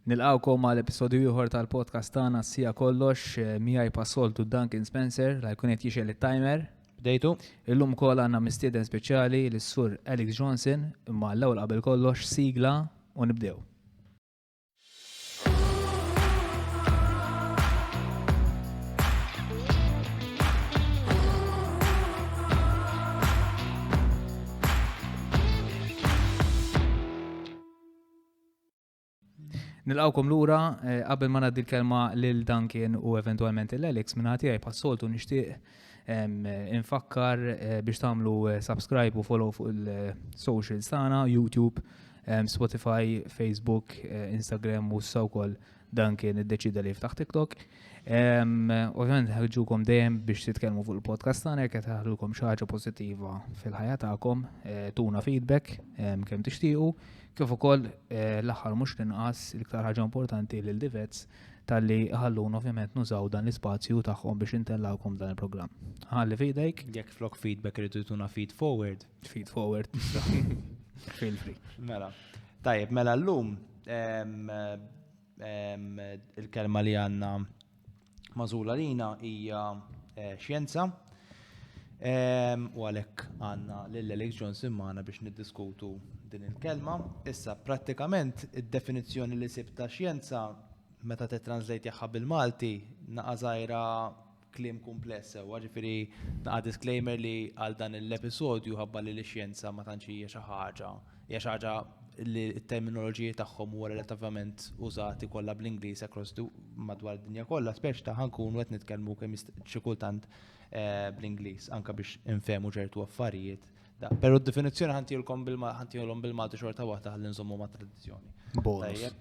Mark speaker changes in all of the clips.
Speaker 1: Nilqgħukom għal episodju ieħor tal-podcast tagħna s-sija kollox miegħi pas-soltu Duncan Spencer la jkun qed jixel it-timer. Bdejtu.
Speaker 2: Illum ukoll għandna
Speaker 1: mistieden speċjali lis-sur Alex Johnson imma l-ewwel qabel kollox sigla u nibdew. Nilqawkom lura, eh, qabel ma ngħaddi l-kelma lil Duncan u eventwalment il Alex minn ħati għaj passoltu nixtieq infakkar eh, biex tagħmlu eh, subscribe u follow fuq il-social sana, YouTube, Spotify, Facebook, Instagram u s-sawkol Duncan id-deċida li jiftaħ TikTok. Ovvjament ħarġukom dejjem biex titkellmu fuq il-podcast tagħna jekk qed ħarġukom xi ħaġa pożittiva fil-ħajja tagħkom, eh, tuna feedback kemm tixtiequ, kif ukoll eh, l-aħħar mhux l-inqas l-iktar ħaġa importanti lil divets tal-li ħallun ovvjament nużaw dan l-ispazju tagħhom biex intellawkom dan il-programm. Ħalli fidejk. Jekk flok feedback
Speaker 2: rridu tuna feed forward. Feed forward.
Speaker 1: Feel free. Mela.
Speaker 2: Tajjeb, mela l-lum Il-kelma li għandna magħżula lina hija xjenza. U għalhekk għandna lil Alex Johnson magħna biex niddiskutu din il-kelma. Issa prattikament id-definizzjoni li sib ta' xjenza meta titranslate jaħħa bil-Malti naqażajra Kliem kumpless sewwa, ġifieri naqa' disclaimer li għal dan l-episodju ħabba li l-xjenza ma tantx hija xi ħaġa, hija xi ħaġa li t-terminoloġiji tagħhom huwa relattivament użati kollha bl-Ingliż across the madwar id-dinja kollha, spex ta' ħankunu qed nitkellmu kemm xi kultant bl-Ingliż anke biex infehmu ċertu affarijiet. Però d-definizzjoni ħantihulkom ħantihulhom bil-Malti xorta waħda ħalli nżommu mat-tradizzjoni.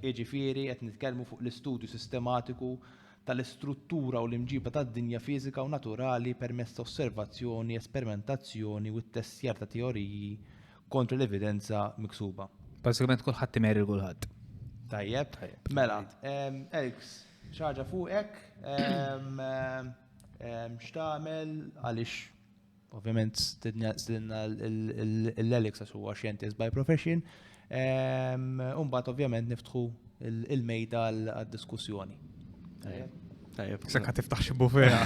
Speaker 2: Jiġifieri qed nitkellmu fuq l-istudju sistematiku tal-istruttura u l-imġiba tad-dinja fiżika u naturali permezz ta' osservazzjoni, esperimentazzjoni u ttestjar ta' teoriji kontra l-evidenza miksuba. Bażikament kulħadd
Speaker 1: imerri l-kulħadd. Tajjeb.
Speaker 2: Mela, Elks, xi ħaġa fuqek? X'tagħmel għaliex Ovvjament stidna l-Alex għax huwa xjentist by profession. Umbat ovvjament niftħu il-mejda għal-diskussjoni.
Speaker 3: Sekka tiftaħ xi
Speaker 1: bufera.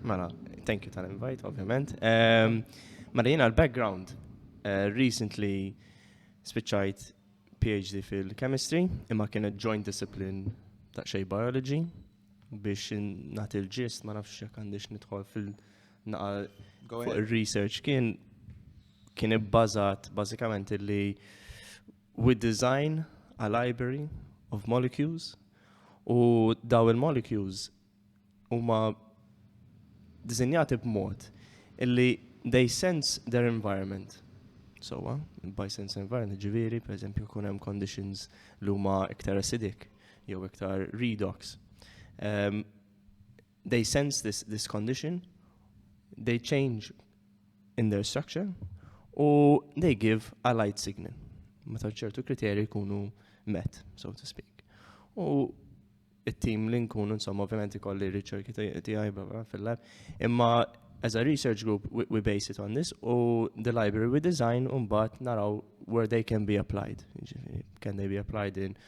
Speaker 3: Mela, thank you tal-invite, ovvjament. Mela jiena l-background, eh, recently spiċċajt PhD fil-chemistry, imma kienet joint discipline ta' xej biology. biex nagħti l-ġist ma nafx jekk għandix nidħol fil-naqa fuq ir-research kien kien ibbażat bażikament li we design a library of molecules u daw il-molecules huma dizinjati b'mod illi they sense their environment. So, uh, by sense environment, ġiviri, per eżempju, kun hemm conditions li huma iktar acidic, jew iktar redox. Um, they sense this, this condition, they change in their structure, u they give a light signal. Meta ċertu kriterji jkunu met, so to speak. U it-tim li nkunu insomma ovvjament ikolli riċerki tiegħi bla fil-lab, imma as a research group we, we base it on this u the library we design un bat naraw where they can be applied. Can they be applied in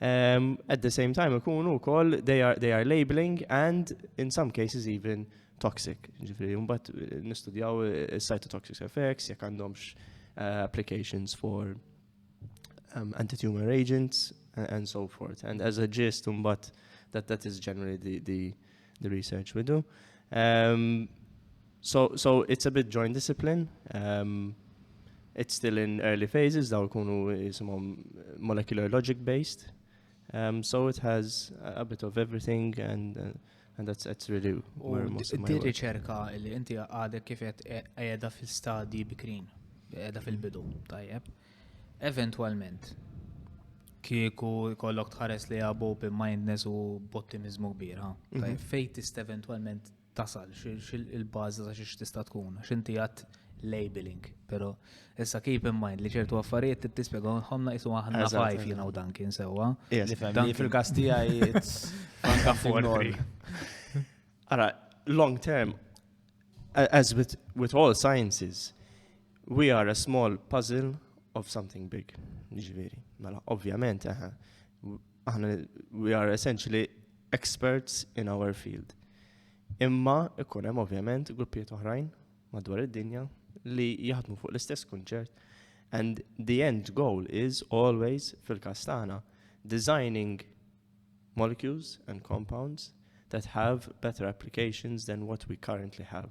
Speaker 3: Um, at the same time, ikunu wkoll they are, they are labeling and in some cases even toxic. Ġifiri, mbagħad eh, nistudjaw eh, cytotoxic effects, jekk għandhomx uh, applications for um, anti-tumor agents and, and so forth. And as a gist, mbagħad that that is generally the, the the research we do. Um, so, so it's a bit joint discipline. Um, it's still in early phases, daw kunu jisimom molecular logic based. Um, so it has a bit of everything and uh, and that's that's really where most of my work. riċerka li inti
Speaker 1: għadek kif qed qiegħda fil-stadji bikrin, qiegħda fil-bidu, tajjeb. Eventwalment, kieku jkollok tħares lejha b'open mindness u b'ottimiżmu kbir, ha? Tajjeb, fejn tista' eventwalment tasal, il-bażi ta' xiex tista' tkun, għax inti għedt labeling, però issa keep in mind li ċertu affarijiet trid tispjegahom naqsu aħna fajf jiena u Duncan sewwa. Dan fil-każ
Speaker 2: tiegħi it's anka
Speaker 1: forti.
Speaker 3: Ara, long term, as with all sciences, We are a small puzzle of something big. Ġviri, mela, ovvjament, eh, aħna, we are essentially experts in our field. Imma ikun hemm ovvjament gruppijiet oħrajn madwar id-dinja li jaħdmu fuq l-istess kunċert and the end goal is always fil-każ tagħna designing molecules and compounds that have better applications than what we currently have.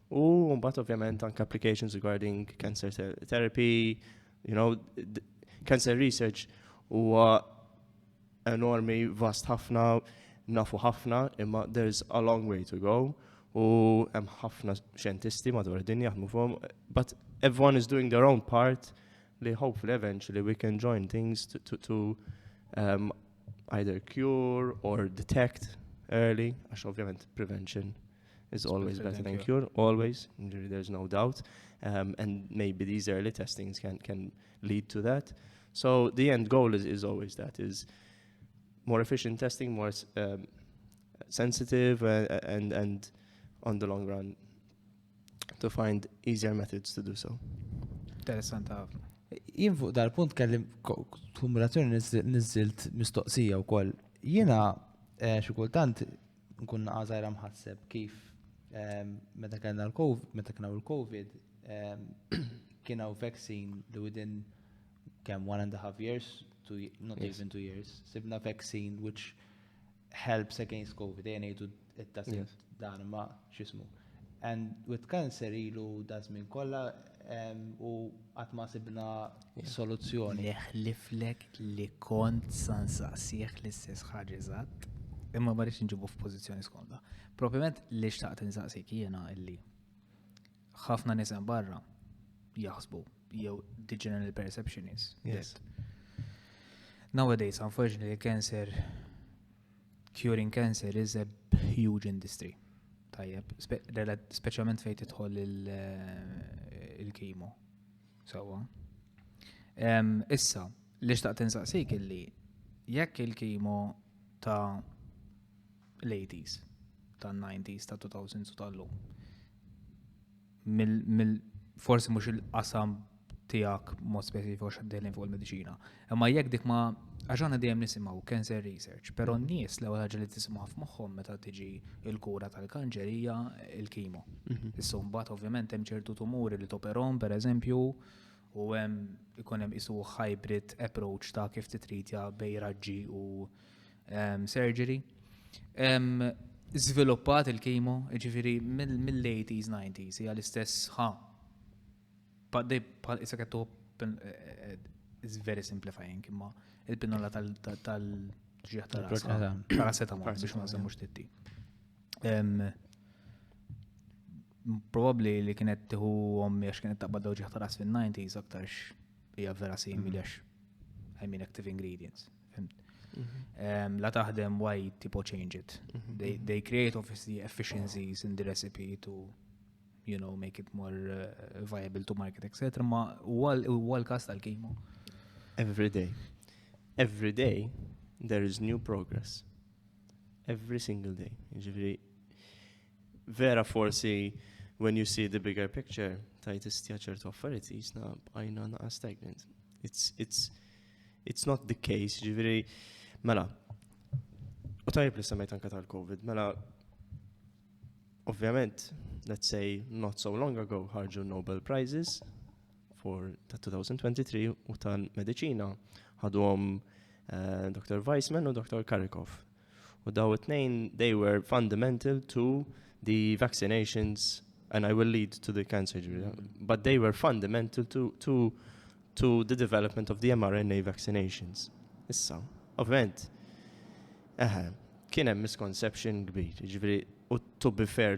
Speaker 3: U mbagħad ovvjament anke applications regarding cancer therapy, you know, cancer research huwa enormi, vast ħafna, nafu ħafna, imma there's a long way to go u hemm ħafna xjentisti madwar id-dinja jaħdmu fuqhom, but everyone is doing their own part li hopefully eventually we can join things to, to, to um, either cure or detect early, għax ovvjament prevention is always better than cure, always, there's no doubt. Um, and maybe these early testings can, can lead to that. So the end goal is, is always that, is more efficient testing, more um, sensitive, uh, uh, and, and on the long run, to find easier methods to do so. Interessant
Speaker 1: ħafna. Jien fuq dal-punt
Speaker 2: kellim kumulazzjoni nizzilt mistoqsija u koll. Jiena eh, xikultant Nkun naqa' żgħira mħasseb kif meta kellna l-COVID, meta kien il-COVID, kien hawn vaccine li within kemm one and a half years, two, not yes. even two years, sibna vaccine which helps against COVID, dejjem ngħidu it-tasib dan ma x'ismu. And with cancer ilu daż-żmien kollha u qatt ma sibna soluzzjoni. Neħliflek
Speaker 1: li kont sa nsaqsih l-istess ħaġa eżatt, imma ma rridx inġibu f'pożizzjoni skomda. Propjament li xtaqt insaqsik jiena illi ħafna nies hemm barra jaħsbu jew the general perception is. Yes. Nowadays, unfortunately, cancer Curing cancer is a huge industry. Tajjeb, speċjalment fejn tidħol eh, il-kimo. Sawa. Issa, li xtaqt insaqsik illi jekk il-kimo ta' l-80s, ta' 90s, ta' 2000s u tal-lum. mill forsi mhux il-qasam tiegħek mod speċifiku għax għaddejlin fuq il-mediċina. Imma jekk dik ma għax għandna dejjem nisimgħu cancer research, però mhm. n-nies l ħaġa li tisimgħu f'moħħhom meta tiġi il-kura tal-kanċer hija l-kimo. Mhm. Issa mbagħad ovvjament hemm ċertu tumuri li toperhom pereżempju u hemm ikun hemm isu hybrid approach ta' kif titritja bej raġġi u ehm, surgery. Ehm, żviluppat il-kimo, ġifiri mill-80s, 90s, hija l-istess ħa. Bħal issa kettu is very simplifying imma il-pinnola tal-ġieħ tal-paracetamol biex ma nsemmu xtitti. Probabli li kienet tiħu għommi għax kienet taqbad dawġi ħtaras fil-90s aktarx hija vera simili għax I mean active ingredients. Mhm. La taħdem why tipo change it. Mhm. They, they create obviously efficiencies in the recipe to you know, make it more uh, viable to market, etc. Ma huwa l-kas tal-kimo. Every day.
Speaker 3: Every day there is new progress. Every single day. Ġifiri, vera forsi when you see the bigger picture, tajt istja ċertu affarijiet jisna bqajna naqa stagnant. It's, it's, it's not the case, ġifiri, mela, u tajb li semmejt anka tal-Covid, mela, ovvjament, let's say, not so long ago, ħarġu Nobel Prizes, for ta' 2023 u tal-medicina ħadhom eh, Dr. Weissman u Dr. Karikov. U daw it-tnejn they were fundamental to the vaccinations and I will lead to the cancer injury, mm-hmm. but they were fundamental to, to, to the development of the mRNA vaccinations. Issa, ovvent, eħe, kien hemm misconception kbir, ġifieri u to be fair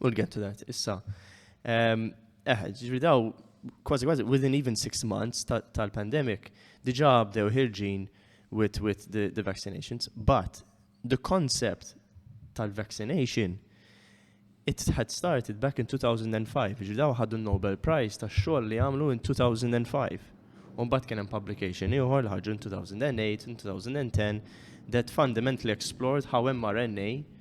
Speaker 3: We'll get to that, issa. Ehm, eh, ġri daw, kważi kważi, within even six months tal-pandemic, diġa bdew ħirġin with, with the, the vaccinations, but the concept tal-vaccination it had started back in 2005, ġi daw ħaddu Nobel Prize ta' xogħol li għamlu in 2005. Umbat kien hemm publication ieħor li ħarġu in 2008 in 2010 that fundamentally explored how mRNA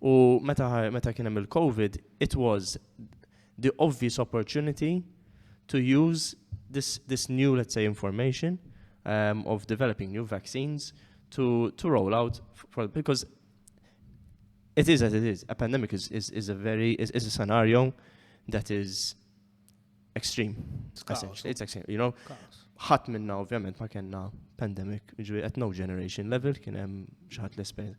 Speaker 3: U meta, meta kien hemm il-COVID, it was the obvious opportunity to use this, this new, let's say, information um, of developing new vaccines to, to roll out for, because it is as it is. A pandemic is, is, is a very is, is a scenario that is extreme. It's, chaos, it's extreme, you know. Ħadd minna ovvjament ma kellna pandemic, ġifieri at no generation level kien hemm xi ħadd l-esperjenza.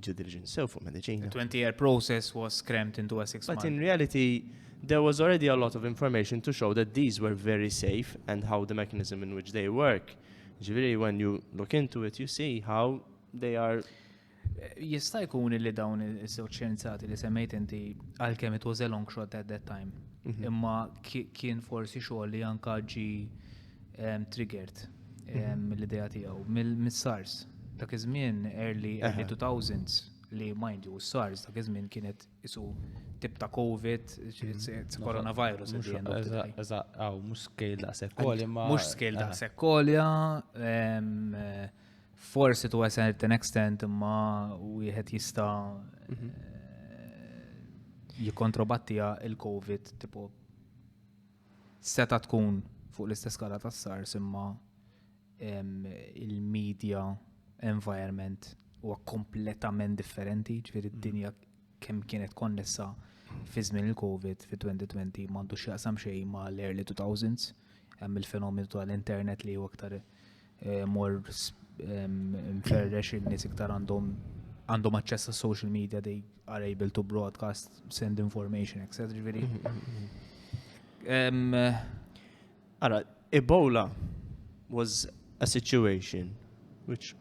Speaker 3: due diligence sew fuq medicina. The 20-year process
Speaker 1: was crammed into a six month. But in reality,
Speaker 3: there was already a lot of information to show that these were very safe and how the mechanism in which they work. Ġiviri, when you look into it, you see how they are Jista'
Speaker 1: jkun li dawn iż-żewġ xjenzati li semmejt inti għalkemm it was a long shot at that time. Mhm. Imma kien forsi xogħol li anka ġi Triggered mill-idea tiegħu, mill-SARS. Dak iż-żmien early 2000s li mind you, SARS dak iż-żmien kienet isu tip ta' COVID, mhm. coronavirus. Eżatt,
Speaker 2: għaw, mux scale da' sekkolja. Mux scale da'
Speaker 1: sekkolja, forsi to a certain extent imma wieħed jista' mhm. eh, jikontrobattija il-COVID tipo Seta' tkun fuq l-istess skala tas-SARS imma il-media environment huwa kompletament differenti, ġifieri d-dinja kemm kienet konnessa fi żmien il-COVID fi 2020 m'għandu x'jaqsam xejn ma' l-early 2000s, hemm il-fenomenu tal-internet li huwa aktar eh, mor mferrex in-nies iktar għandhom għandhom aċċess għas social media they are able to broadcast, send information, etc. Ġviri.
Speaker 3: Għara, Ebola was a situation which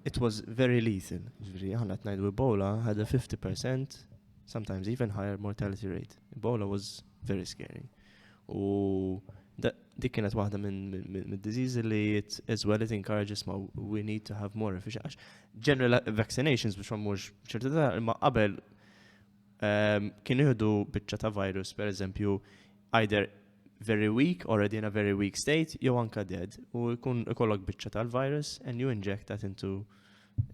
Speaker 3: it was very lethal. Ġviri, għanna t-najdu Ebola had a 50%, sometimes even higher mortality rate. Ebola was Very scary. U dik kienet waħda minn disease li it, as well it encourages ma we need to have more efficient. General vaccinations biex mhux ċerta ta' imma qabel ehm, kien jihdu biċċa ta' virus per eżempju either very weak, already in a very weak state, jew anka dead. U jkun ikollok biċċa tal-virus and you inject that into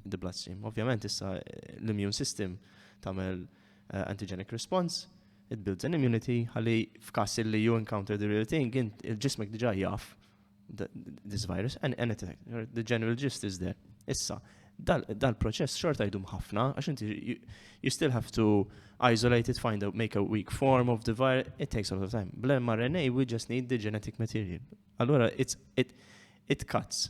Speaker 3: the bloodstream. Ovvjament issa eh, l-immune system tagħmel eh, antigenic response It builds an immunity ħalli f'każ li you encounter the real thing, il-ġismek diġà jaf this virus and, and it, the general gist is there. Issa, dal-proċess xorta jdum ħafna, għax inti you still have to isolate it, find out, make a weak form of the virus, it takes a lot of time. Bl-mRNA, we just need the genetic material. Allora, it's, it, it cuts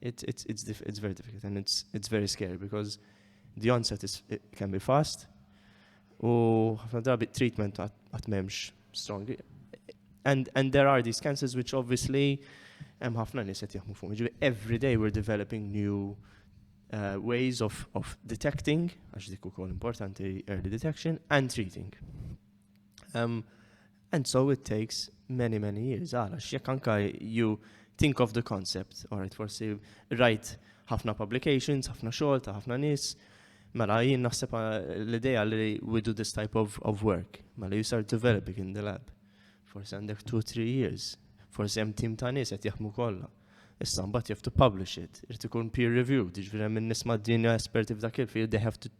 Speaker 3: It's, it's, it's, diff it's very difficult and it's, it's very scary because the onset is, it can be fast u ħafna drabi treatment għat memx strong. And, and there are these cancers which obviously hemm ħafna nies qed jaħmu fuq. Ġifieri every day we're developing new uh, ways of, of detecting, għax dik ukoll importanti early detection, and treating. Um, And so it takes many many years, għala x'jekk anka you think of the concept, alright forsi rajt ħafna publications, ħafna xogħol ta' ħafna nies, mela jien naħseb l-idea li we do this type of, of work, mela you start developing in the lab. Forsi għandek 2-3 years, forsi hemm tim ta' nies qed jaħmu kollha. Issa mbagħad you have to publish it, irid ikun peer reviewed, jiġifieri hemm in-nies mad-dinja esperti f'dak il-field, they have to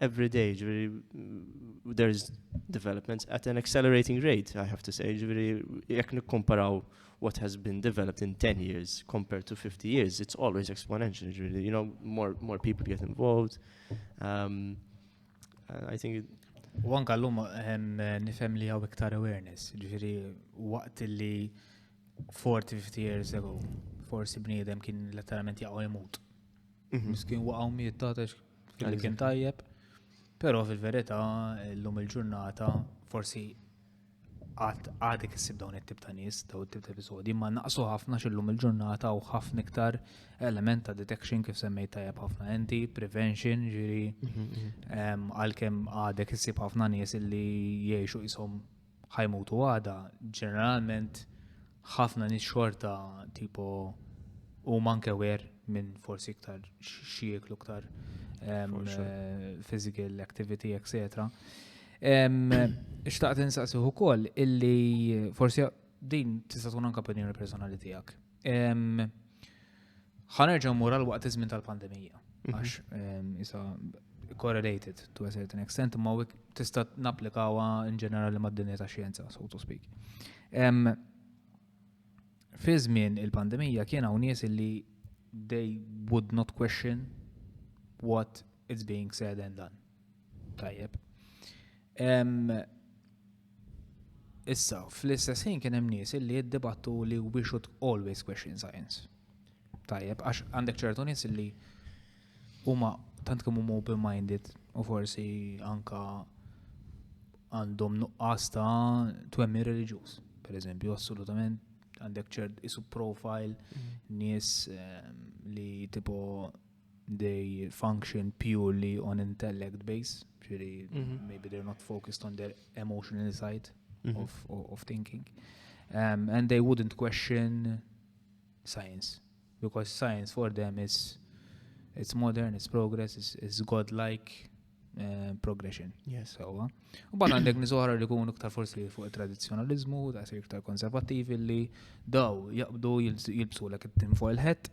Speaker 3: every day, ġviri, there's developments at an accelerating rate, I have to say, ġviri, jek nikkomparaw what has been developed in 10 years compared to 50 years, it's always exponential, ġviri, you know, more, more people get involved. Um, I think it, U anka
Speaker 1: l-lum nifem li għaw iktar awareness, ġviri, waqt li 40-50 years ago, forsi bniedem kien letteralment jaqaw jemut. Mhm. Miskin waqaw miet taħtex Għalli kien tajjeb, pero fil-verita l-lum il-ġurnata forsi għadek s-sib dawn it-tip ta' nis, dawn it-tip ta' episodi, ma naqsu ħafna xillum il-ġurnata u ħafna iktar element ta' detection kif semmejt tajjeb ħafna enti, prevention, ġiri, mhm, mhm. għal-kem għadek s-sib ħafna nis illi jiexu jisom ħa jmutu għada, ġeneralment ħafna nies xorta tipo huma anke wer minn forsi iktar xi jieklu iktar eh, physical activity, etc. Xtaqt insaqsiħu ukoll illi forsi din tista' tkun anke opinjoni personali tiegħek Ħanerġa' mmur għal waqt iż-żmien tal-pandemija. Mhm. Għax isa correlated to a certain extent, imma tista' napplikawha in ġenerali mad-dinja ta' xjenza, so to speak. Fi żmien il-pandemija kien hawn nies li they would not question what it's being said and done. Tajjeb. Issa, fl-istess ħin kien hemm nies li jiddibattu li we should always question science. Tajjeb, għax għandek ċertu nies li huma tant kemm huma open-minded u forsi anka għandhom nuqqas ta' twemmi reliġjuż. Per eżempju, assolutament għandek ċert isu profile mm. nies ehm, li tipo they function purely on intellect base, ġiri, mm -hmm. maybe they're not focused on their emotional side mm -hmm. of, of, of thinking. Um, and they wouldn't question science, because science for them is it's modern, it's progress, it's, it's godlike uh, progression. Yes. So, uh,
Speaker 3: u ban
Speaker 1: għandek nizohra li kunu ktar forsi fuq il-tradizjonalizmu, ta' iktar konservativi li daw jaqbdu jilbsu l-ek tim fuq il-ħet,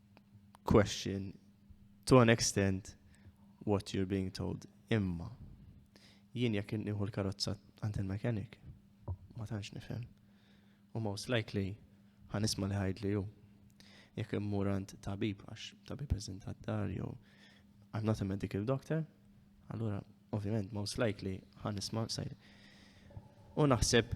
Speaker 3: question to an extent what you're being told. Imma, jien jekk nieħu l-karozza għand il-mekanik, ma tantx nifhem. U most likely ħanisma li ħajd li ju. Jekk immur għand tabib għax tabib eżint għad-dar jew I'm not a medical doctor, allura ovvjament most likely ħanisma sajri. U naħseb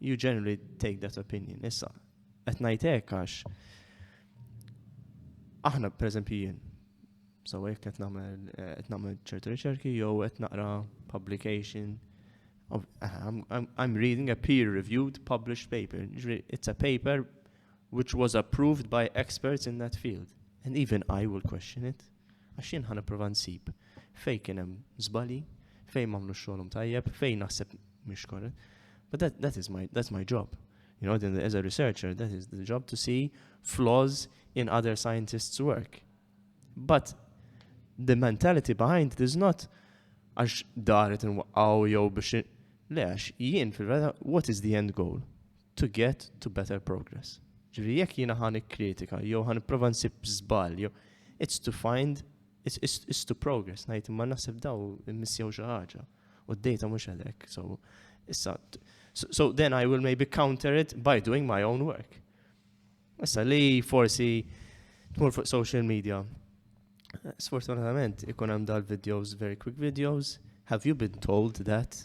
Speaker 3: You generally take that opinion. Issa, qed ngħid hekk għax aħna pereżempju jien so hekk qed nagħmel eh, qed nagħmel ċertu riċerki jew qed naqra publication of, eh, I'm, I'm, I'm reading a peer-reviewed published paper. It's a paper which was approved by experts in that field. And even I will question it. Għax jien ħa nipprova nsib fejn kien hemm żbalji, fejn m'għamlux xogħolhom tajjeb, fejn naħseb mhix korrett. But that, that is my, that's my job. You know, then as a researcher, that is the job to see flaws in other scientists' work. But the mentality behind it is not għax daret nwaqqaw jew biex le għax jien fil-vera what is the end goal? to get to better progress. Ġifieri jekk jiena ħa nikkritika jew ħa nipprova nsib żball jew it's to find it's, it's, it's to progress ngħid imma naħseb daw missjew xi ħaġa u d-dejta mhux għalek. So issa so, so then I will maybe counter it by doing my own work. Issa li forsi tmur fuq social media. Sfortunatament ikun hemm dal-videos, very quick videos. Have you been told that?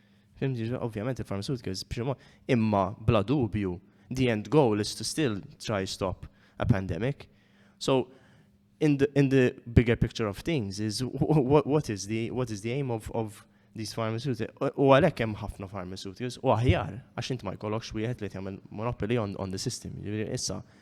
Speaker 3: Fimti, ovvjament il-pharmaceuticals b'xi mod, imma bla dubju, the end goal is to still try stop a pandemic. So, in the, in the bigger picture of things is what, what is the what is the aim of, of these pharmaceuticals. U għalhekk hemm ħafna pharmaceuticals u aħjar għax int ma jkollokx wieħed li jagħmel monopoly on, on the system. Issa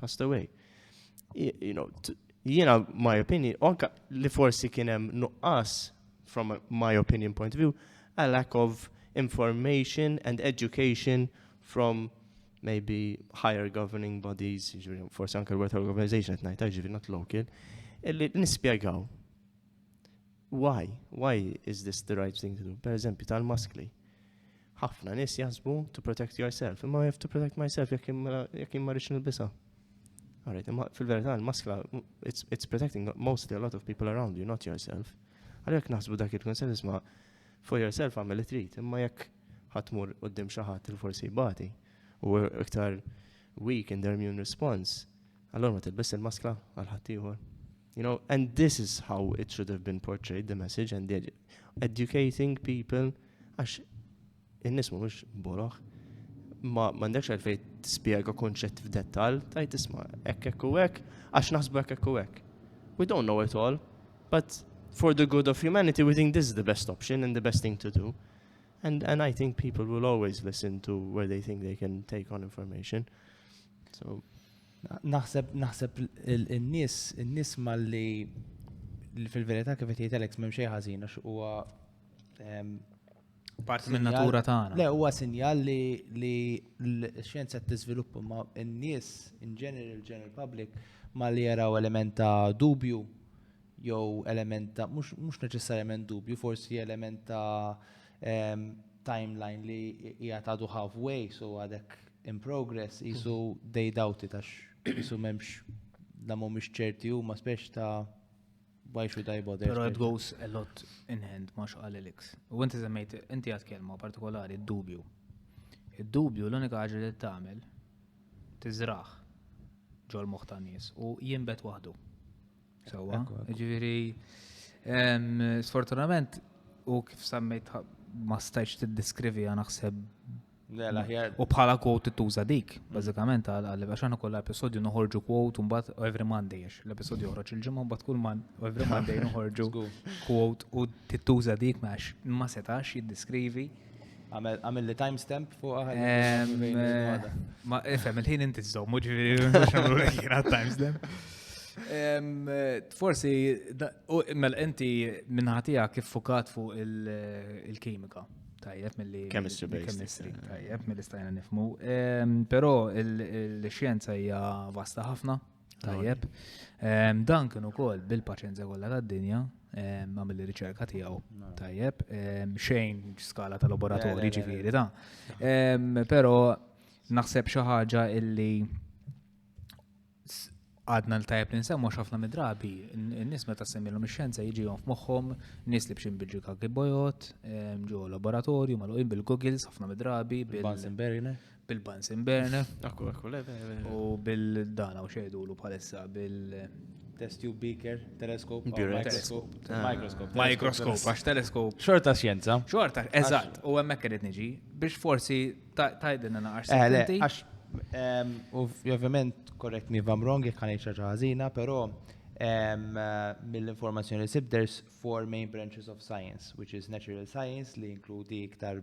Speaker 3: passed away. You know, jiena my opinion, anka li forsi kien hemm nuqqas from my opinion point of view, a lack of information and education from maybe higher governing bodies, forse anke l-World Health Organization at night, ġivi not local, illi nispiegaw. Why? Why is this the right thing to do? Per eżempju, tal-maskli. Ħafna nies jaħsbu to protect yourself, imma I have to protect myself jekk mela, jien ma rridx nilbisha. Alright, imma fil-verità l-maskla it's, it's protecting mostly a lot of people around you, not yourself. Għalhekk naħsbu dak il-konsens isma' for yourself għamel trid, imma jekk ħatmur qudiem xi ħadd il forsi jbati u iktar weak in their immune response, allora ma tilbis il-maskla għal ħaddieħor. You know, and this is how it should have been portrayed, the message, and the educating people, għax in-nis mux boroħ, ma mandekx għalfej t-spiega konċett f'dettal, tajt isma, ekk ekk u ekk, għax naħsbu ekk ekk u ekk. We don't know it all, but for the good of humanity, we think this is the best option and the best thing to do. And, and I think people will always listen to where they think they can take on information. So, Naħseb
Speaker 2: naħseb in-nies in-nies malli fil-verità kif qed jgħid Alex m'hemm xejn ħażin għax huwa ehm,
Speaker 1: parti minn natura tagħna. Le huwa sinjal li
Speaker 2: li l-xjenza tiżviluppa ma' n-nies in general general public ma li jaraw element ta' dubju jew element ta' mhux neċessarjament dubju, forsi element ta' ehm, timeline li hija ta' halfway so għadek in progress qisu they doubt it għax qisu m'hemmx la mhumiex ċerti huma spex ta' why should I bother. Però it goes a lot
Speaker 1: in hand ma xqal Elix. U inti semmejt inti għad kelma partikolari d-dubju. Id-dubju l-unika ħaġa li tagħmel tiżraħ ġol moħħ ta' nies u jinbet waħdu. Sewa, ġifieri sfortunament u kif semmejt ma stajx tiddiskrivi għana naħseb U bħala quote tuża dik, bażikament għal għax aħna kollha episodju noħorġu quote mbagħad every Monday għax l-episodju joħroġ il-ġimgħa mbagħad kull man every Monday noħorġu quote u tittuża dik għax ma setax jiddiskrivi Għamil
Speaker 2: li timestamp fuq għal.
Speaker 1: Ma ifem, il-ħin inti t-zom, muġi għamlu li kien għal timestamp. Forsi, mel inti minnħatija kif fukat fuq il-kimika. Tajjeb mill-li. Chemistry based. Tajjeb mill-li stajna nifmu. Pero il-xienza hija vasta ħafna. Tajjeb. Ehm, dan kien ukoll bil-paċenzja kollha tad-dinja ehm, għamil riċerka tiegħu. Tajjeb, ehm, xejn skala ta' laboratorji ġifieri ta'. Però naħseb xi ħaġa illi għadna l-tajb li nsemmu xafna midrabi, n-nis meta semmilhom ix-xjenza jiġihom f'moħħom, nis li bxin bil-ġika kibojot, ġo laboratorju, maluqin bil-goggles, ħafna midrabi, bil-Bunsen Beriner.
Speaker 2: bil-Bansin Berne.
Speaker 1: Akku, akku, le, le,
Speaker 3: le. U
Speaker 1: bil-dana u xejdulu palissa bil-
Speaker 2: Test tube beaker, teleskop, oh, Durex. microscope. Ah. Microscope.
Speaker 1: Microscope, għax teleskop. Xorta xjenza.
Speaker 2: Xorta, eżatt,
Speaker 1: u hemmhekk qed niġi biex forsi ta- tajdinna naqar Eh, le, sententi. għax,
Speaker 2: em, u f- ovvjament, correct me if I'm wrong, jek għan ċaġa ħazina, pero em, eh, mill-informazzjoni li sib, there's four main branches of science, which is natural science, li inkludi iktar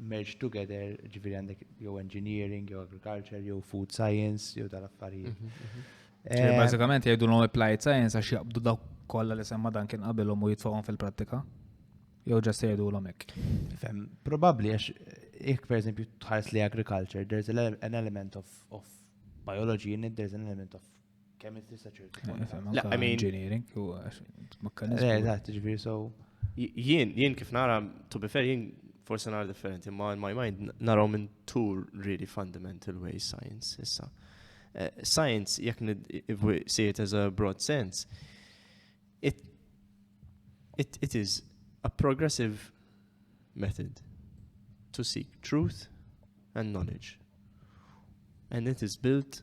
Speaker 2: merge together, ġviri għandek jew engineering, jew agriculture, jew food science, jew dal-affarijiet. Mhm, mhm. Eh,
Speaker 1: bazzikament jgħidu l-om applied science għax jaqbdu daw kolla li semma dan kien qabilhom u jitfawhom fil-prattika. Jew ġast jgħidu l-om hekk. Fem, probabli
Speaker 2: għax jek per eżempju tħares li agriculture, there's an element of, of biology in it, there's an element of Kemm inti tista' ċertu. La, I mean. Engineering,
Speaker 1: u mekkaniżmu. Eżatt,
Speaker 2: ġifieri so. Jien, jien
Speaker 3: kif nara, to be fair, jien forse nara differenti, ma in my mind naraw minn two really fundamental ways science issa. Eh, science, jekk if we see it as a broad sense, it, it, it is a progressive method to seek truth and knowledge. And it is built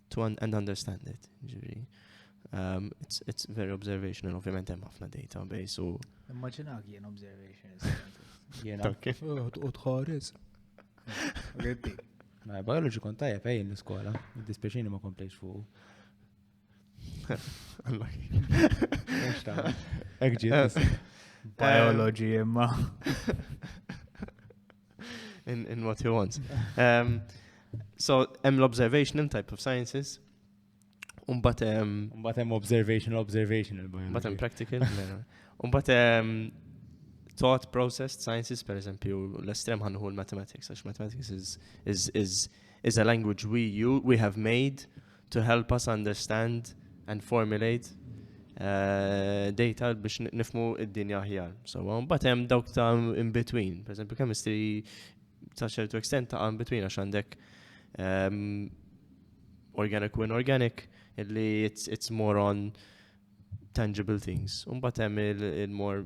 Speaker 3: to un and understand it. Ġifieri, um, it's, it's very observational, ovvjament hemm ħafna database u. Immaġinak jien
Speaker 1: observational scientist.
Speaker 2: Jena. Okay. U tħares. Ritti. Ma biology kont tajjeb ejn l-iskola, id-dispeċini ma komplejx fuq. Allah.
Speaker 1: Ekġiet. Biology imma.
Speaker 3: in, in what he wants. Um, so, hemm l-observational type of sciences, Umbat hemm. Umbat hemm
Speaker 2: observational, observational. Umbat hemm practical.
Speaker 3: Umbat hemm thought process sciences, per eżempju, l-estrem ħanħu l-mathematics, għax mathematics is, is, is, is a language we, you, we have made to help us understand and formulate uh, data biex nifmu id-dinja aħjar. So, um, but hemm dawk ta' in between. Per esempio, chemistry ta' ċertu extent ta' in between għax għandek um, organic u inorganic illi it's, it's more on tangible things. Umbat hemm il-more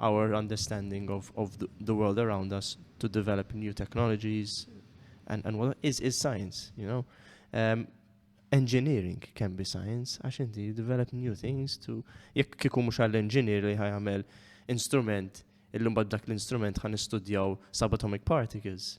Speaker 3: our understanding of of the world around us to develop new technologies and and what is is science you know um, engineering can be science għax inti develop new things to jekk kieku mhux għall-engineer li ħajamel instrument illum bad dak l-instrument ħan istudjaw subatomic particles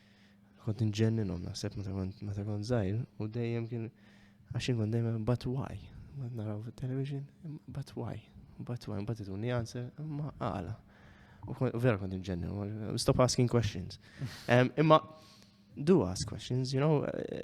Speaker 3: Kont nġenninhom naħseb meta kont żgħir u dejjem kien għax inkun dejjem but why. Ma naraw fit-television, but why. But why, but ituni answer, ma għala. U vera kont nġenninhom, stop asking questions. Imma do ask questions, you know, eh,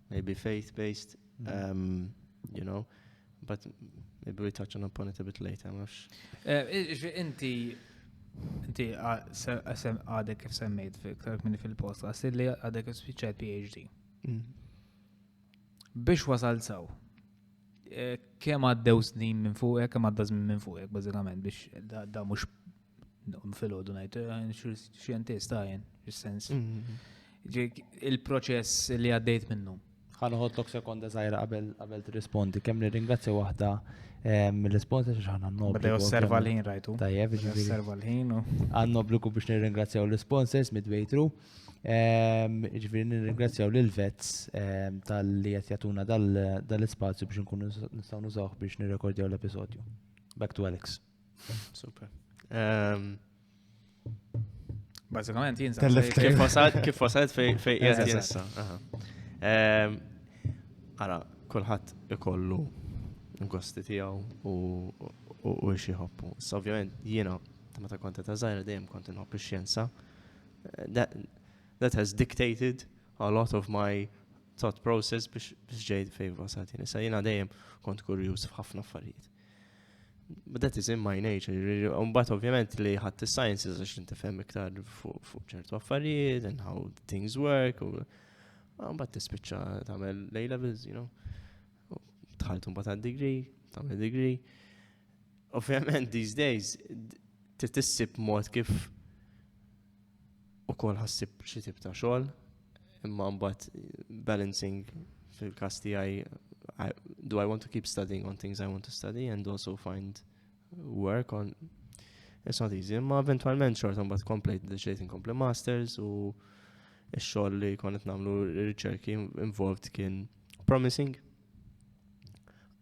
Speaker 3: maybe faith based, um, you know, but maybe we touch on upon it a bit later, mux. Eh, inti,
Speaker 1: inti għadek kif semmejt fil-ktar minni fil-post, għasir li għadek kif spiċċat PhD. Mm. Biex wasal saw, eh, kem għaddew snin minn fuqek, kem għadda minn fuqek, bazzikament, biex da mux Fil-ħodu ngħid eh, xjentist għajn, is-sens. Mm-hmm. Il-proċess li għaddejt minnu. Ħanħotlok sekonda
Speaker 2: żgħira qabel qabel tirrispondi kemm nirringrazzja waħda eh, mill-responsa xi ħana noblu. Bada osserva l-ħin rajtu.
Speaker 1: Tajjeb, osserva
Speaker 2: l-ħin.
Speaker 1: Għandna obbligu biex
Speaker 2: nirringrazzjaw l-sponsors midway through. Ehm, ġifiri nirringrazzjaw lil vets ehm, tal-li qed jagħtuna dal-ispazju biex nkunu nistgħu nużawh biex nirrekordjaw l-episodju. Back to Alex. Super.
Speaker 3: Ehm,
Speaker 1: Bazzikament, jien kif
Speaker 3: wasalt fej fej jessa. Ehm, ara, kullħat ikollu gosti tijaw u u xie hoppu. So, ovvijament, jiena, ta' meta konta ta' zaħira dejjem kont nħobb ix-xjenza. That has dictated a lot of my thought process biex ġejt fej wasalt. Sa jiena dejjem kont kurjuż f'ħafna affarijiet. Bdet iżim my nature, unbat ovvjament li ħadd is-sciences għax inti fem iktar fuq ċertu affarijiet and how things work. Unbat tispiċċa tagħmel lejla levels you know. Tħalt unbat għad degree, tagħmel degree. Ovvjament these days titissib mod kif ukoll ħassib xi tip ta' xogħol, imma mbagħad balancing fil-każ tiegħi do I want to keep studying on things I want to study and also find work on It's not easy, imma eventualment xorta mbagħad komplejt deċejt inkompli masters u x-xogħol li konet nagħmlu riċerki involved kien promising.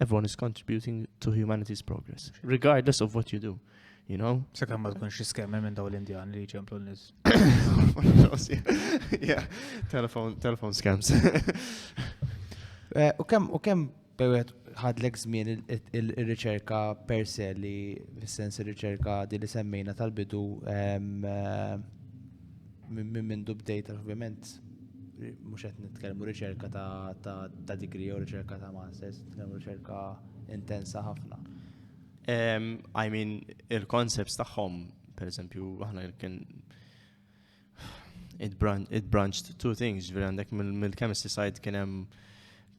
Speaker 3: Everyone is contributing to humanity's progress, regardless of what you do. You know? Se kemm ma tkunx iskemmi
Speaker 1: minn daw l-Indjan li ġemplu l-nis. Yeah,
Speaker 3: telephone, telephone scams. Eh,
Speaker 2: u kemm u kemm bewet ħadlek żmien ir-riċerka per se li fis-sens ir-riċerka di li semmejna tal-bidu ehm, eh, Minn mindu bdejt ovvjament mhux qed nitkellmu riċerka ta' degree jew riċerka ta' masters, nitkellmu riċerka intensa ħafna.
Speaker 3: I mean, il-concepts tagħhom, per eżempju, aħna kien it, bran it branched two things, ġviri għandek mill-chemistry side kien hemm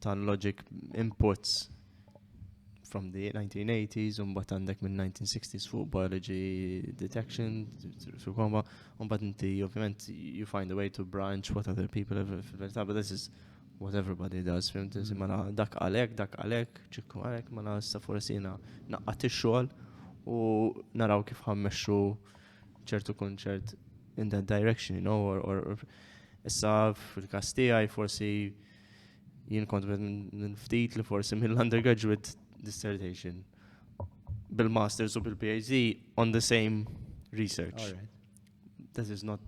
Speaker 3: tal-logic inputs from the 1980s, un bat għandek minn 1960s fuq biology detection, fil koma un bat inti, ovvijament, you find a way to branch what other people have, fil-verita, but this is what everybody does, fim, tizi, mm. mela, dak għalek, dak għalek, ċikku għalek, mela, sa forasina naqqat il-xol u naraw kif ħammexxu ċertu kunċert in that direction, you know, or, or, or issa fil-kastijaj forsi Jien kont minn ftit li forsi minn l-undergraduate dissertation bil-masters u bil-PhD on the same research. All
Speaker 2: right that is
Speaker 3: not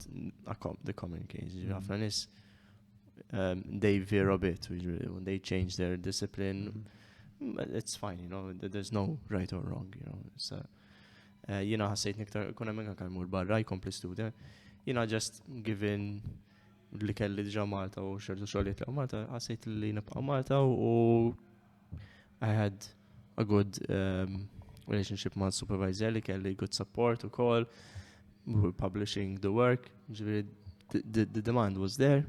Speaker 3: a com the common case. Mm. Ħafna
Speaker 2: mm. nis
Speaker 3: um, they veer a bit when they change their discipline. Mm. mm it's fine, you know, there's no right or wrong, you know. So, uh, jina ħassejt niktar, kuna minka kalmur barra, jkompli student. Jina just given li kelli diġa Malta u xertu xogħlijiet li Malta, ħassejt li nibqa' Malta u I had a good um, relationship ma' supervisor li kelli good support u call, we were publishing the work, ġviri, the, the, the demand was there,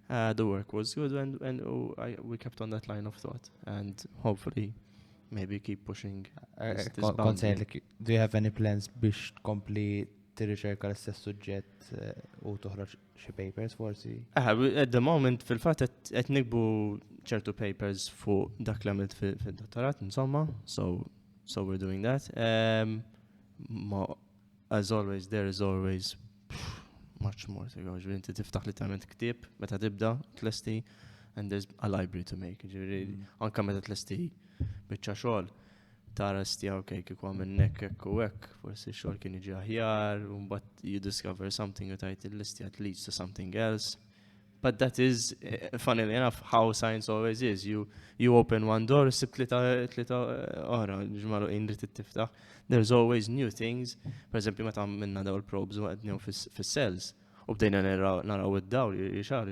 Speaker 3: uh, the work was good and, and uh, I, we kept on that line of thought and hopefully maybe keep pushing. Uh, this, this concern, like, do you have any
Speaker 2: plans biex tkompli tirriċerka l-istess suġġett uh, u toħroġ xi papers forsi. Aha, at the moment
Speaker 3: fil-fatt qed nikbu ċertu papers fuq dak li għamilt fid-dottorat, insomma, so so we're doing that. Um, ma, as always, there is always much more to go. Ġviri, inti tiftaħ li tament ktib, meta tibda, tlesti, and there's a library to make. Ġviri, mm. anka meta tlesti bieċa xogħol. Taras tiegħu ok kieku għamil nek hekk u hekk, forsi xogħol kien jiġi aħjar, u mbagħad you discover something u tajt il-listja leads to something else. But that is, eh, funnily enough, how science always is. You, you open one door, sib tlita oħra, ġmaru indri t-tiftaħ. There's always new things. Per eżempju, meta minna daw il-probes u għednjaw fis-cells. U bdejna naraw id-dawl, xar,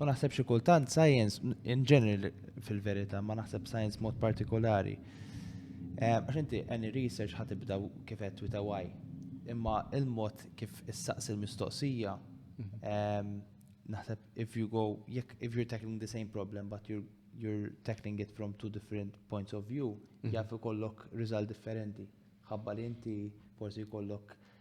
Speaker 3: U naħseb xi
Speaker 2: kultant science in general fil-verità, ma naħseb science mod partikolari. Eh, għax inti any research ħad ibda kif qed with why. Imma il-mod kif issaqs il-mistoqsija mhm. ehm, naħseb if you go jekk if you're tackling the same problem but you're you're tackling it from two different points of view, mhm. jaf ikollok riżult differenti. Ħabba li inti forsi jkollok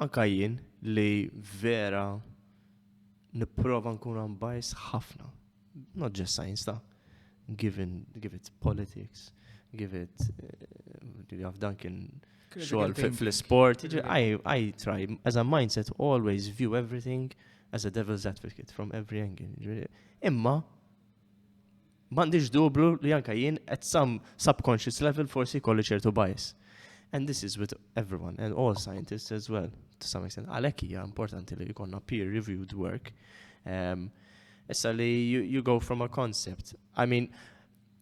Speaker 3: Anka jien li vera nipprova nkun unbiased ħafna. Not just science ta' given, give it politics, give it, eh, għaf dan kien xogħol fl-sport. I, I try, as a mindset, always view everything as a devil's advocate from every angle. Imma, M'għandix dublu li anka jien at some subconscious level forsi kolli ċertu bias. And this is with everyone and all scientists as well, to some extent. Għalhekk hija importanti li jkollna peer reviewed work. Um, issa li you, you go from a concept. I mean,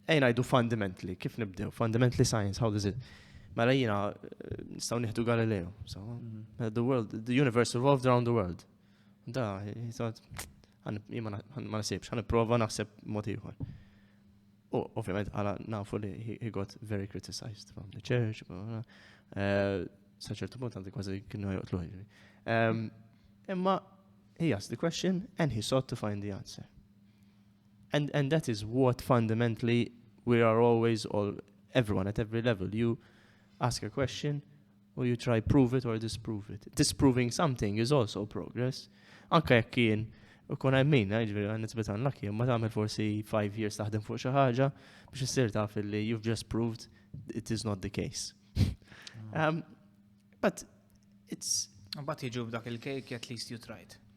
Speaker 3: ejna jdu fundamentally, kif nibdew? Fundamentally science, how does it? Mela jina, eh, nistaw nieħdu Galileo. So, mm-hmm. eh, the world, the universe revolved around the world. Da, jisad, ma nasibx, għan prova naħseb motiħor. U ovvijament għala nafu li he got very criticized from the church, eh, saċertu punt għandi kważi kienu joqtlu ħiġri. Ehm, imma he asked the question and he sought to find the answer. And, and that is what fundamentally we are always all everyone at every level. You ask a question, u you try prove it or disprove it. Disproving something is also progress. Anka jekk kien u kun għajmin, eh, ġveri għan nitbet għan lakki, ma taħmel forsi 5 years taħdem fuq xi ħaġa biex issir taf li you've just proved it is not the case. um, but it's... But jiġu b'dak
Speaker 1: il-cake at least you tried.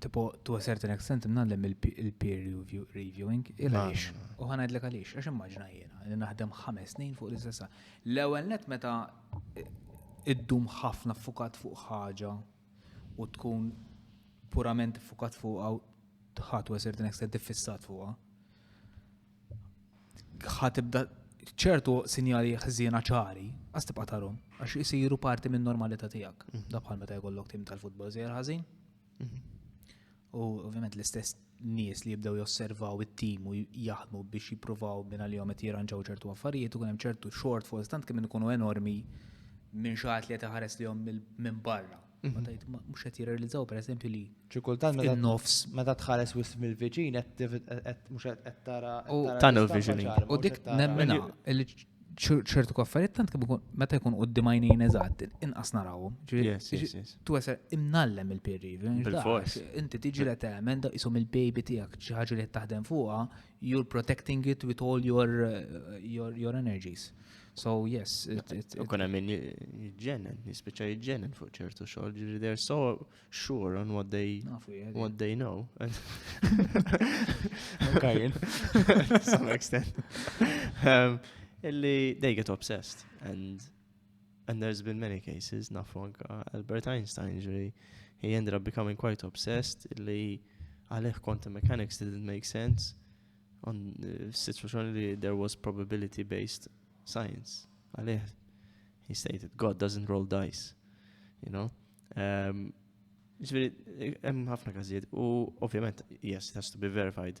Speaker 1: Tipo, to a certain extent, mnallem il-peer reviewing, il-għalix. U ħanajdlek għalix, għax immaġna jena, li naħdem ħames snin fuq l-istessa. L-ewel net meta id-dum ħafna fukat fuq ħaġa u tkun purament fukat fuq għaw tħat u għasir din ekstent fissat fuqa. ħa tibda ċertu sinjali ħżiena ċari, għas tibqa tarom, għax jisiru parti minn normalità tijak. Mhm. Da bħal meta jkollok tim tal-futbol zjer ħażin. Mhm. U ovvjament l-istess nies li jibdew josservaw it-tim u jaħdmu biex jippruvaw minn għal-jom qed jirranġaw ċertu affarijiet u kien hemm ċertu shortfalls tant kemm ikunu enormi minn xaħat li qed iħares lihom minn barra. Mhux qed jirrealizzaw pereżempju li. Xi kultant meta nofs.
Speaker 2: Meta tħares
Speaker 1: wisq
Speaker 2: mill-viċin qed mhux qed tara. Tunnel vision.
Speaker 3: U dik nemmena
Speaker 1: li ċertu kaffariet tant kemm meta jkun qudiem għajnejn eżatt inqas narawhom.
Speaker 3: Tu għasar
Speaker 1: imnallem il-peer review. Inti
Speaker 3: tiġi li
Speaker 1: temen da isom il-baby tiegħek xi ħaġa li qed taħdem fuqha you're protecting it with all your uh, your, your energies. So yes, it, it, it kuna min
Speaker 3: jġennen, jispiċa jġennen fuq ċertu xogħol, ġifieri they're so sure on what they what they know. okay.
Speaker 2: to some
Speaker 3: extent. Um, illi they get obsessed and And there's been many cases, nafu anka Albert Einstein ġri, he ended up becoming quite obsessed li għalih quantum mechanics didn't make sense on eh, situation li there was probability based science. Għalih, he stated, God doesn't roll dice, you know. Um, Ġviri, hemm ħafna każijiet u ovvjament, yes, it has to be verified.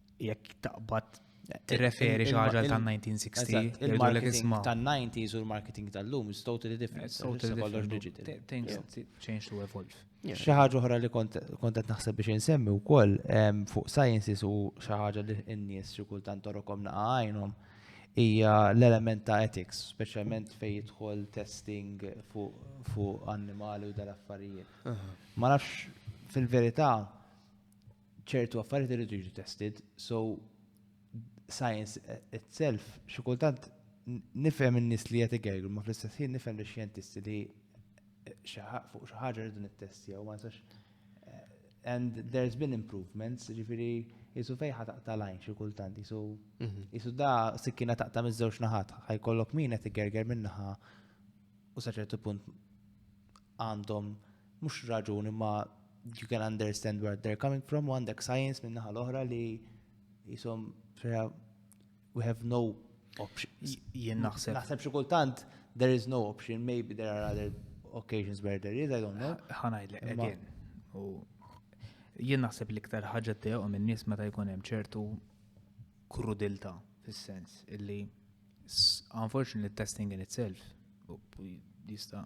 Speaker 1: Jekk taqbad tirreferi xi ħaġa tan-1960. Il-marketing
Speaker 2: tan-90s u l-marketing tal-lum is totally different. Totally kollox digital.
Speaker 1: Things change to evolve. Xi ħaġa oħra li
Speaker 2: kont qed naħseb biex insemmi wkoll fuq sciences u xi ħaġa li n-nies xi kultant torokom naqa' għajnhom hija l-element ta' ethics, speċjalment fejn jidħol testing fuq annimali u dal-affarijiet. Ma nafx fil-verità ċertu affarijiet irridu jiġu tested, so science itself, xi kultant nifhem in-nies li qed igergru, ma fl-istess ħin nifhem li xjentisti li fuq xi ħaġa rridu nittestjaw, ma nistax and there's been improvements, ġifiri jisu fejħa taqta lajn xie kultant, jisu jisu mhm. da sikkina taqta mizzewx naħat, ħaj kollok min qed gerger minnaħa u saċertu punt għandhom mhux raġun imma you can understand where they're coming from u għandek science minn naħa l-oħra li jisom we have no option. Jien naħseb.
Speaker 1: Naħseb xi kultant
Speaker 2: there is no option, maybe there are other occasions where there is, I don't know. Ħanajlek, again.
Speaker 1: Jien naħseb li iktar ħaġa teqom minn nies meta jkun hemm ċertu krudilta fis-sens illi unfortunately testing in itself jista'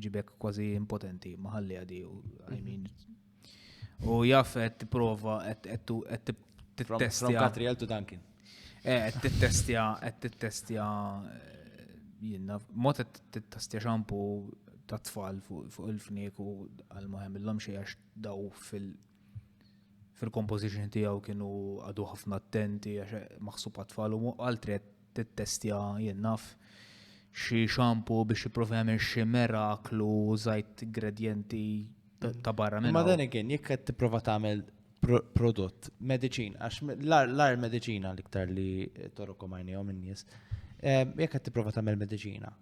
Speaker 1: iġibek kważi impotenti ma ħalliha di u I mhm. mean u jaf qed tipprova qed
Speaker 2: tittestja Katriel to
Speaker 1: Duncan.
Speaker 2: Eh, qed
Speaker 1: tittestja qed tittestja eh, jiena mod qed tittestja xampu ta' tfal fuq il-fnik u għal ma jagħmilhom xejn għax daw fil- fil-composition tiegħu kienu għadu ħafna attenti għax maħsub għat-tfal u għal tret tittestja, jien naf, xi shampoo biex jipprova jagħmel xi meraklu żajt gradjenti ta' barra minn. Ma dan again, jekk qed
Speaker 2: tipprova tagħmel prodott, mediċin, għax l-ar mediċina l-iktar li torokom għajnejhom in-nies, jekk qed tipprova tagħmel mediċina,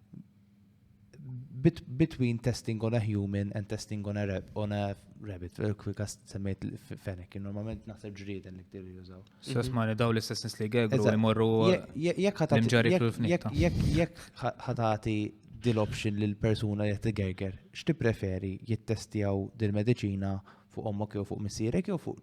Speaker 2: between testing on a human and testing on a, rab, on a rabbit, kwikas semmejt fenek, normalment naħseb ġrieden li ktir jużaw. Sess ma daw l-istess
Speaker 1: nis li għegru li morru
Speaker 2: l-imġari fil-fnik. Jek ħatati dil-option li l-persuna li t-għegger, xti preferi jittestjaw dil-medicina fuq ommok jew fuq missirek jew fuq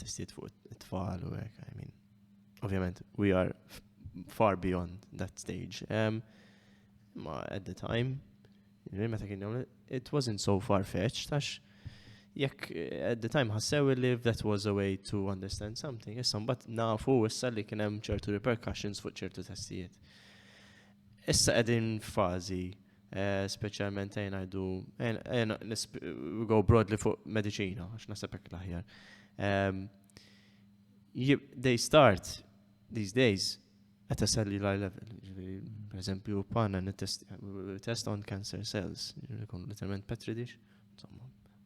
Speaker 3: Testijiet fuq it-tfal u hekk, I mean. Ovvjament, we are far beyond that stage. Um, ma at the time, meta kien it wasn't so far-fetched, għax jekk eh, at the time ħassew li that was a way to understand something, issa mbagħad nafu issa li kien hemm ċertu repercussions fuq ċertu testijiet. Issa qegħdin fażi Speċjalment ejn ngħidu, ejn go broadly fuq mediċina, għax naħseb hekk l-aħjar. They start these days at a cellular level. Per eżempju, panna test on cancer cells, jkun literalment petri dish,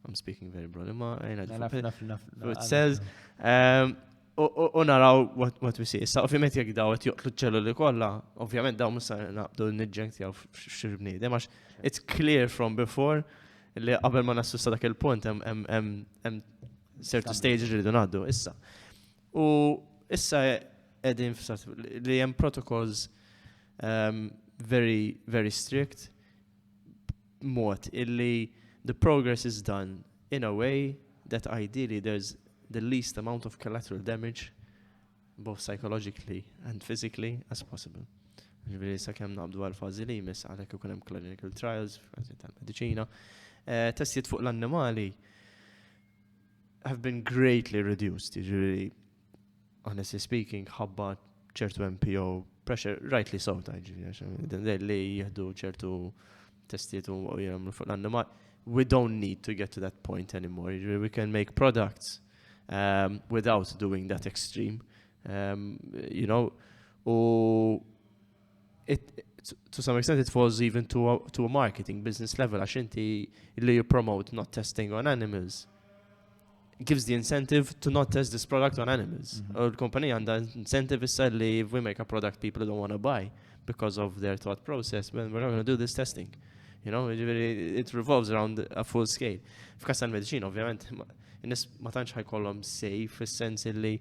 Speaker 3: I'm speaking very broadly, ma għajna d It says, um, u naraw what we see. Issa, ovvijament, jek daw għet joqtlu ċelluli kolla, ovvijament daw musa naqbdu n-nidġenk tijaw xiribni. Demax, it's clear from before li qabel ma nassu sa dak il-punt, hemm certain stage li rridu naddu. Issa. U issa edin li hemm protocols um, very, very strict b'mod illi the progress is done in a way that ideally there's the least amount of collateral damage both psychologically and physically as possible. Ġviri sa' kem naqbdu għal-fazi li jmiss għalek ikun hemm clinical trials, fazi tal-medicina. Eh, testijiet fuq l-annimali have been greatly reduced, ġviri honestly speaking, ħabba ċertu MPO pressure, right li sawta ġivja, li jihdu ċertu testiet u jgħamlu fuq l-annimal. We don't need to get to that point anymore. We can make products um, without doing that extreme. Um, you know, u to some extent it falls even to a, to a marketing business level għax inti li you promote not testing on animals gives the incentive to not test this product on animals. Mhm. U l-kompanija għandha incentive issa li we make a product people don't want to buy because of their thought process, well, we're not going to do this testing. You know, it revolves around a full scale. F'kas tal-medicina, ovvjament, nis ma tantx ħajkollhom sej fis-sens li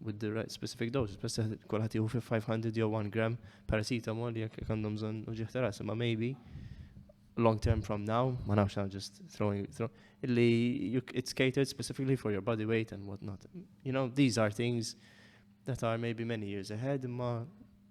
Speaker 3: with the right specific doses, bess kolħat jihu fi 500 jew 1 gram paracetamol jek għandhom zon uġiħ taras, ma maybe long term from now, ma nafx I'm just throwing, throw, illi it's catered specifically for your body weight and whatnot. You know, these are things that are maybe many years ahead, ma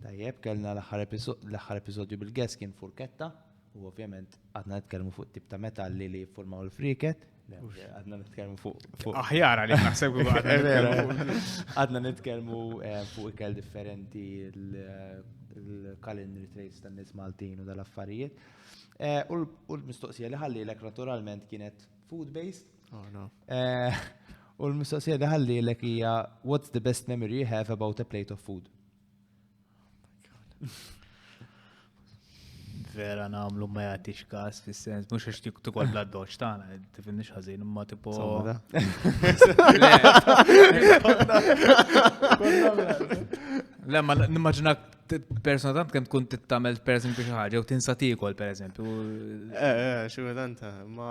Speaker 2: Tajjeb, kellna l-aħħar episodju bil-guest kien furketta, u ovvjament għadna nitkellmu fuq tip ta' metalli li jiffurmaw il-friket, għadna nitkellmu fuq. Aħjar għalik
Speaker 1: naħseb
Speaker 2: għadna nitkellmu eh, fuq ikel differenti l-culinary trace tan nies Maltin u dal-affarijiet. Eh, u l-mistoqsija li ħalli l-ek naturalment kienet food-based. Oh, eh, u l-mistoqsija li ħalli l-ek hija what's the best memory you have about a plate of food?
Speaker 1: vera namlu ma jagħtix kas fis-sens mhux għax tikol bla doċ tagħna tifinni ħażin imma tipo. Le ma nimmaġina persona tant kemm tkun tittamel person biex ħaġa u tinsa tikol pereżempju. Eh, eh
Speaker 3: xi ma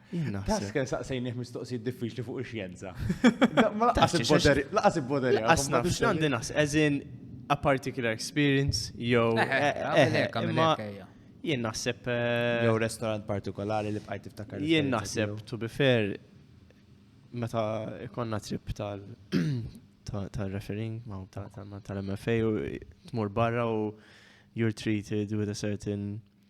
Speaker 1: Task kien
Speaker 2: saqsejnih mistoqsijiet diffiċli fuq ix-xjenza. Laqas il-boderi. Laqas il-boderi. Laqas naf. X'għandi naħs,
Speaker 3: as in a particular experience jew. Jien naħseb. Eh, jew restaurant
Speaker 2: partikolari li bqajt tiftakar. Jien naħseb, to be
Speaker 3: fair, meta ikonna trip tal tal-referring ma tal-MFA u tmur barra u you're treated with a certain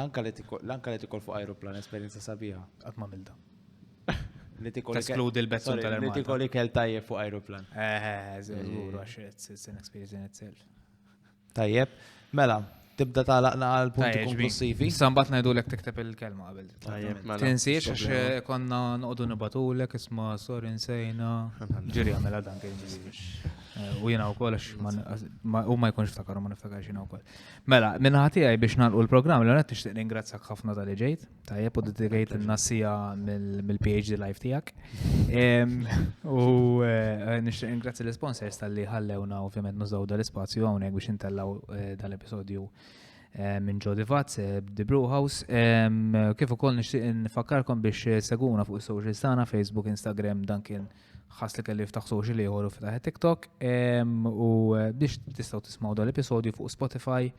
Speaker 1: Anka
Speaker 2: li tikol, anka li tikol fuq aeroplan, esperienza sabiħa. Għat ma milda.
Speaker 1: Li tikol. Teskludi
Speaker 2: l-bezzun tal-ermata. Li tikol ikel
Speaker 1: tajjeb fuq
Speaker 2: aeroplan. Eh, eh, zgur,
Speaker 1: għax it's an experience in itself. Tajjeb,
Speaker 2: mela, tibda talaqna għal punti konklusivi. Sambat najdu l tikteb
Speaker 1: il-kelma għabel. Mela, Tinsiex għax eh, konna noqdu nibatulek isma sorry nsejna. Ġiri għamela dan kien ġiri. Eh, u jena u koll għax u ma jkunx ftakar ma niftakar jena u koll. Mela, minna ħatijaj biex nalqu l-programm, l għonet nishtiq ningrazzak ħafna tal ġejt, tajjeb u dedikajt n-nassija mill-PhD life tijak. U eh, nishtiq ningrazzi l-sponsors tal-li ħallewna ovvjament nużaw dal-spazju għawnek biex intellaw eh, dal-episodju eh, minn Jody Vatz, The Brew House. Kif ukoll nixtieq nfakkarkom biex seguna fuq is-social tagħna Facebook, Instagram, Duncan. ħass li kellu jiftaħ social ieħor u fetaħ TikTok u biex tistgħu tismgħu dal-episodju fuq Spotify,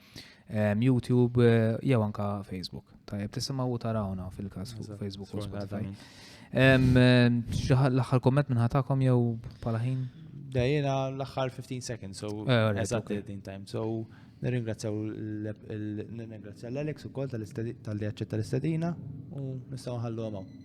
Speaker 1: YouTube eh, jew anka Facebook. Tajjeb tisimgħu u tarawna fil-każ fuq Facebook u Spotify. L-aħħar komment minn ħatakom jew bħala ħin? Dajjena
Speaker 2: l-aħħar 15 seconds, so eh, eżatt din time. So nirringrazzjaw l-Alex ukoll tal-li aċċetta l-istadina u nistgħu
Speaker 1: nħallu għamaw.